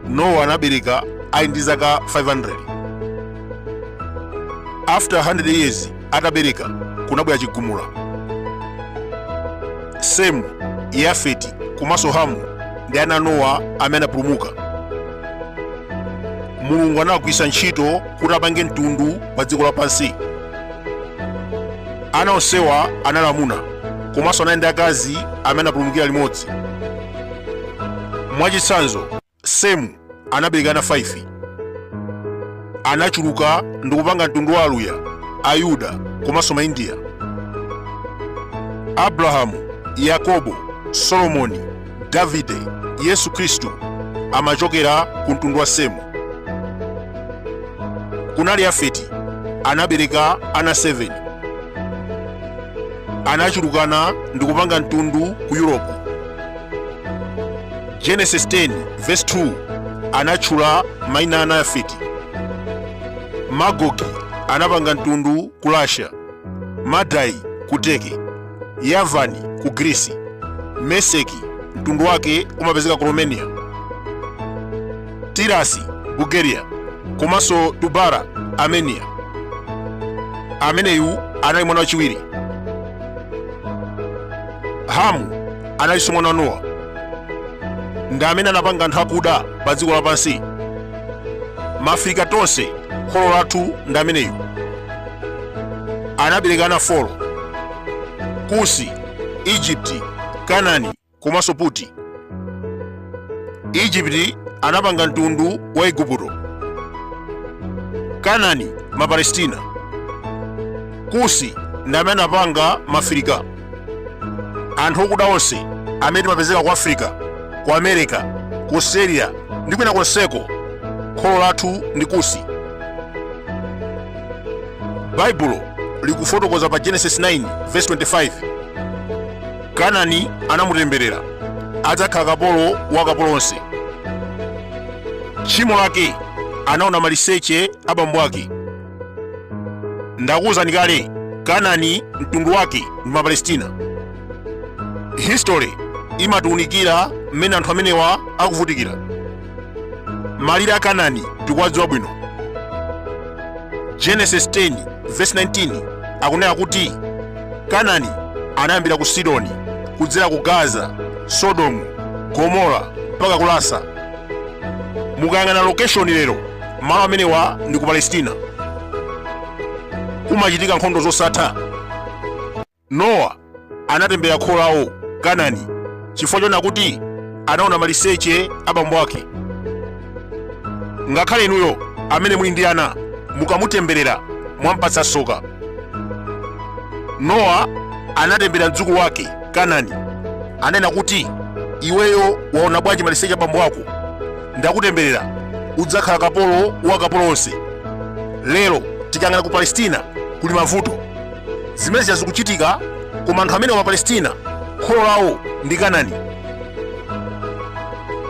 nowa anabereka ali ndi zaka 500 after 100 years atabereka kunabwera chigumula semu yafeti komanso hamu ndi ana nowa amene anapulumuka mulungu anawagwiritsa ntchito kuti apange mtundu pa dziko lapansi ana onsewa anali amuna komanso anali ndi akazi amene anapulumukira limodzi mwachitsanzo semu anabereka ana 5 anachuluka ndi kupanga mtundu wa aluya ayuda komanso maindiya abrahamu yakobo solomoni Davide, Yesu Kristu, amachokera ku mtundu wa Semu. Kunali Yafeti, anabereka ana 7. Anachulukana ndi kupanga mtundu ku Yuropu. Genesis 10 verse 2 anatchula maina a ana a Yafeti. Magogi anapanga mtundu ku Russia, Madai ku Turkey. yavani ku girisi meseki mtundu wake umapezeka ku romania tirasi bulgaria komanso tubara armenia ameneyu anali mwana wachiwiri hamu analinso mwana wa nowa ndi amene anapanga anthu akuda pa dziko lapansi maafirika tonse kholo lathu ndi ameneyu anabereka ana 4 kusi igupto kanani komanso puti igupto anapanga mtundu wa igupto kanani mapalestina kusi ndi amene anapanga maafirika anthu okuda onse amene timapezeka ku africa ku america ku australia ndi kwina konseko kholo lathu ndi kusi baibulo likufotokoza pa genesis 9 verse 25 kanani anamutemberera adzakhala kapolo wa akapolo onse tchimo lake anaona maliseche a bambo ake ndakuwuzani kale kanani mtundu wake ndi mapalestina history imatiwunikira mmene anthu amenewa akuvutikira malire a kanani tikuwadziwa bwino genesis 10 verse 19 akunena kuti kanani anayambira ku sidoni kudzera ku gaza sodomu gomora mpaka ku lasa mukayang'ana location lero malo amenewa ndi ku palestina kumachitika nkhondo zosatha nowa anatembera kholo lawo kanani chifukwa chona kuti anaona maliseche a bambo ake ngakhale inuyo amene muli ndi ana mukamutemberera mwampatsa soka nowa anatembera mdzukulu wake kanani anena kuti iweyo waona bwanji maliseche a bambo ako ndakutemberera udzakhala kapolo wa kapolo onse lero tikang'ana ku palestina kuli mavuto zimene zija zikuchitika koma anthu amenewa mapalestina kholo lawo ndi kanani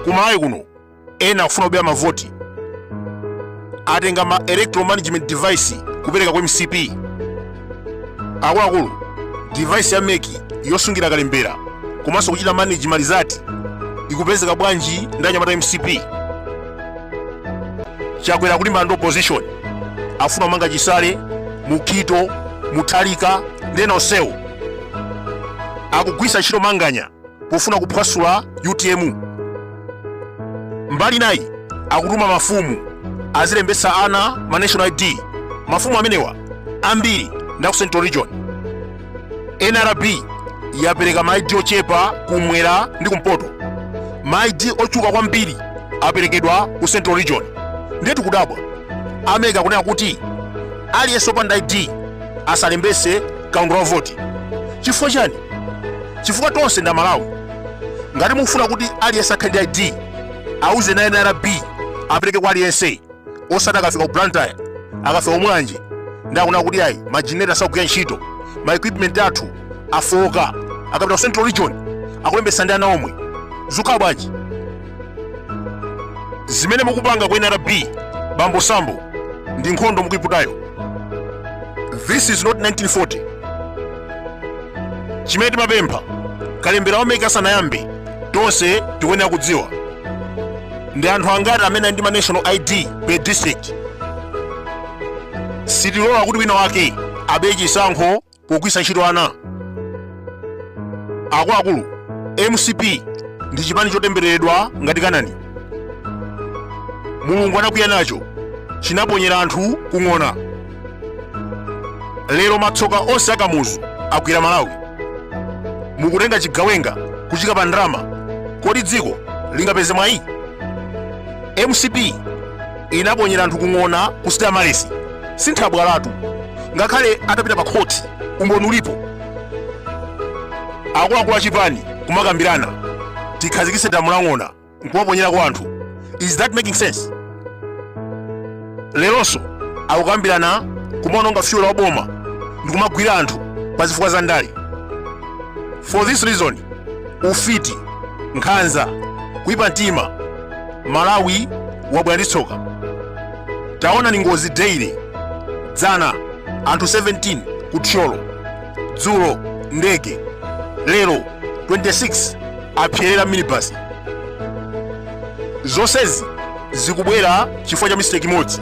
ku malawi kuno ena akufuna kubera mavoti atenga ma electoral management device kupereka ku mcp akuluakulu device ya meki yosungira kalembera komanso kuchita manage malizati ikupezeka bwanji ndi anyamata mcp chakwera kulimbana ndi opposition afuna kumanga chisale mukito mutharika ndi ena onsewo akugwisa ntchito manganya pofuna kuphwasula utm mbali inayi akutuma mafumu azilembetsa ana ma national id mafumu amenewa ambiri ndi aku central region nrb yapereka ma id ochepa kumwera ndi kumpoto ma id ochuka kwambiri aperekedwa ku central region ndiye tikudabwa a meki akunena kuti aliyense opanda id asalembese kaundula wa voti chifukwa chiyani chifukwa tonse ndi amalawi ngati mufuna kuti aliyense akhale ndi id awuzeni a nrb apereke kwa aliyense osati akafika ku blantyre akafika kumulanje ndiye akuti kuti ayi majenereta asakugwira ntchito ma equipment athu afoka akapita ku central region akulembesa ndi ana omwe zukhala bwanji zimene mukupanga ku nrb bambo sambo ndi nkhondo mukuyiputayo this is not 1940 chimene timapempha kalembera wa meki asanayambe tonse tikuyenera kudziwa ndi anthu angati amene ali ndi ma national id per district sitilola kuti wina wake abe chisankho pogwiritsa ntchito ana akuluakulu mcp ndi chipani chotembereredwa ngati kanani mulungu anakwiya nacho chinaponyera anthu kung'ona lero matsoka onse akamuzu agwira malawi mukutenga chigawenga kuchiika pa ndalama kodi dziko lingapeze mwayi mcp ankaponyera anthu ku ng'ona ku stamaresi si nthabwalatu ngakhale atapita pa khothi umboni ulipo akuluakulu a chipani kumakambirana tikhazikitse damu la ng'ona nkumaponyerako anthu is that making sense lelonso akukambirana kumaononga fuel wa boma ndi kumagwira anthu pa zifukwa za ndale for this reason ufiti nkhanza kuipa mtima Malawi wabwera ndi tsoka taonani ngozi daily dzana anthu 17 ku Thyolo dzulo ndege lelo 26 apserera mu minibus zonsezi zikubwera chifukwa cha mistake imodzi